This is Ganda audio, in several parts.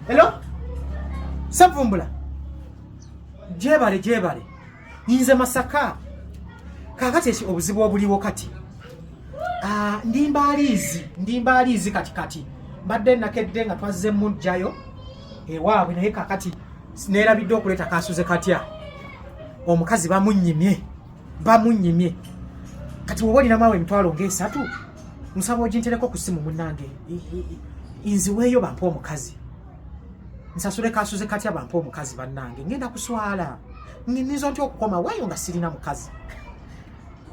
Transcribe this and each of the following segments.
Hello? Savumbula. Jebale jebale. Yinze masaka. Kakati eki obuzibu obuliwo kati. Ah, ndi mbalizi, ndi mbalizi kati kati. Mbadde nakedde nga twazze mu jayo. Ewaabwe naye kakati nerabidde okuleta kasuze katya. Omukazi bamunyimye. Bamunyimye. Kati wobolina mawe mtwalo ngesatu. nsaba ogintereko ku simu munange nziweeyo bampa omukazi nsasule kasuze katya bampa omukazi bannange ngenda kuswala nnyinza ntya okukoma waayo nga sirina mukazi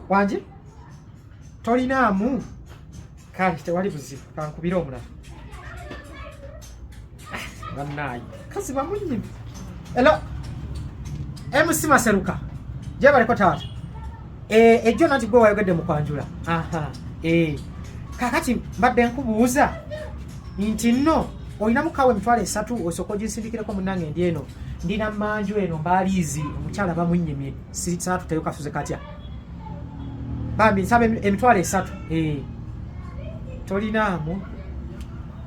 wangi tolinaamu kale tewali buzibu kankubire omulala banaye kazi bamunyini elo MC Maseruka gyebaliko taata eh, ejjo nati gwe wayogedde mu kwanjula eh, kakati mbadde nkubuuza nti nno olina mukawa emitwalo esatu osooka oginsindikireko munange ndi eno ndina manju eno mbaaliizi omukyala bamunyimye saatuteyo kasuze katya bambi nsaba emitwalo esatu eh, tolinaamu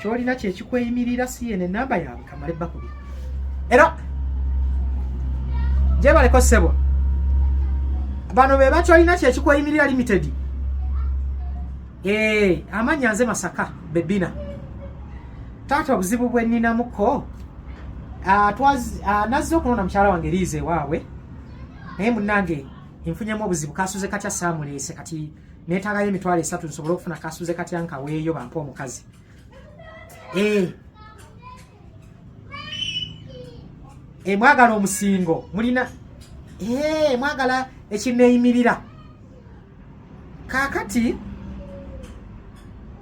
kyolina kyekikweyimirira si yene namba yaabwe kamale bakubi era gyebaleko sebwa bano be bakyolina kyekikweyimirira limited ee amanya nze masaka bebina taata obuzibu bweninamuko ah, ah, nazze okunona mukyala wange liiza ewaabwe naye munange nfunyemu obuzibu kasuze katya saamuleese kati netagayo emitwalo esatu nsobole okufuna kasuze katya nkaweeyo bampe omukazi ee eh. ee eh, mwagala omusingo mulina ee eh, mwagala ekineyimirira kakati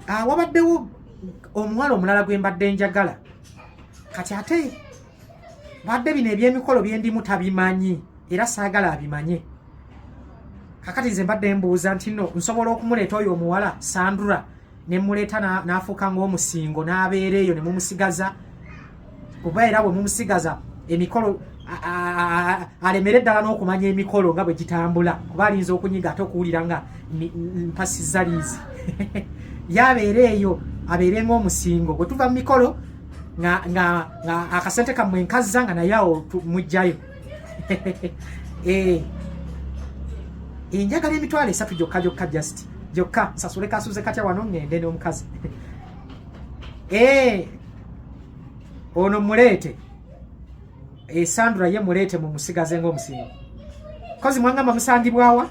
ah, wabaddewo omuwala omulala gwe mbadde njagala kati ate badde bino ebyemikolo byendimu tabimanyi era saagala abimanye kakati nze mbadde mbuuza nti no nsobola okumuleeta oyo omuwala sandura nemuleeta n'afuuka ng'omusingo n'abeera eyo ne mumusigaza oba era bwe mumusigaza emikolo alemere ddala n'okumanya emikolo nga bwe gitambula kuba alinza okunyiga ate okuwulira nga mpasizza liizi yabeera eyo abeere ng'omusingo bwe tuva mu mikolo nga nga nga akasente kamwe nkazza nga naye awo mujjayo eh enjagala emitwalo esatu gyokka gyokka just gyokka nsasule kasuze katya wano ngende n'omukazi eh ono muleete esandura eh, ye muleete mumusigaze ng'omusingo kozi mwangamba musangibwawa